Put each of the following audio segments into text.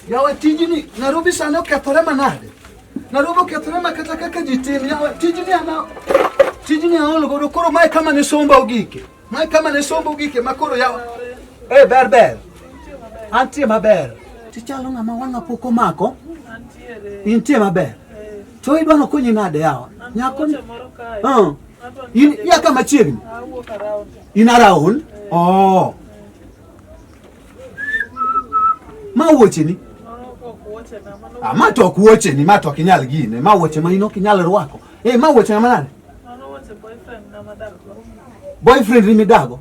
yawe tijini narobi sani okethore manade narobi okethore ma kata kaka ji tim yawe tijini ana tijini aol godo koro mae kama ne somba ogike Ma kama ne sombo gike ma koro yawa. Eh, ber ber. Antie maber. Tichalo ng'ama wang'a pok omako. Intie maber. To idwa nokonyi nade yawa? Nyako ni. Uh. In ya kama chiegni. In around. Oh. Ma wuoche ni. Ah, ma to ok wuoche ni, ma to ok inyal gine. Ma wuoche ma in ok inyal rwako. Eh, ma wuoche ng'ama nade? boyfriend ni midago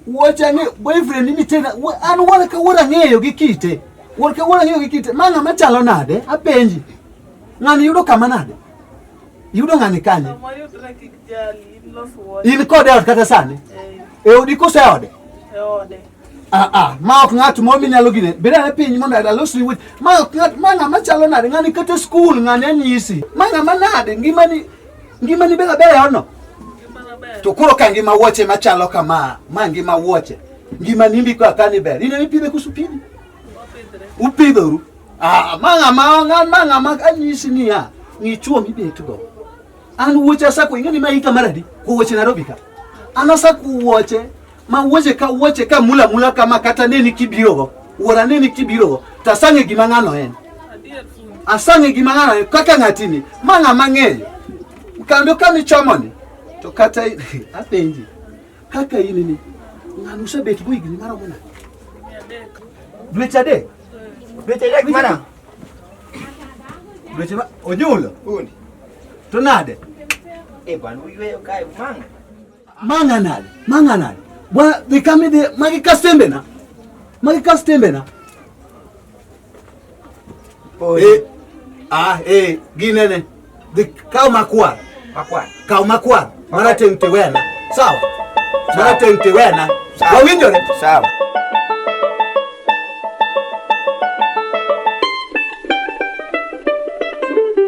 wacha ni boyfriend ni tena an wala ka wala ng'eyo gi kite wala ka wala ng'eyo gi kite ma ng'ama chalo nade apenji ng'ani yudo kama nade yudo ng'ani kanye in kode ot kata sani e odi kose ode Ah, ah, ma ok ng'at moro minyalo gine bed ane piny mondo alosni weche ma ok ng'at ma ng'ama chalo nade ng'ani kata skul ng'ani anyisi ma ng'ama nade ngimani Ngimani bela bela ono. Tukuro ka ngima wuoche machalo kama, ma ngima wuoche. Ngima nimbi kwa kani ber. Ine mipidhe kusu pidhi. Upidhoru. Ah, manga manga manga manga anyisi ni ya. Ni chuo mibetugo. An wuoche asako ingeni ma hika maradi. Kuwoche Nairobi ka. An asako wuoche ma wuoche ka wuoche ka mula mula kama kata neni kibirogo wuora neni kibirogo to asang'e gima ng'ano en asang'e gima ng'ano en kaka ng'atini ma ng'ama ng'eyo kando kama ichomoni to kata i- apenji kaka in ni ng'ano usebet go higni maromo nade dweche adek Dweche adek mana. dweche ma onyulo Undi. to nade Eh bwana, uyueyo kae umanga. manganale manganale bwa bikamide magikasembena magikasembena eh ah eh ginene dikao makwar makwar kao makwar mara tente wena sawa mara tente wena wawinjore sawa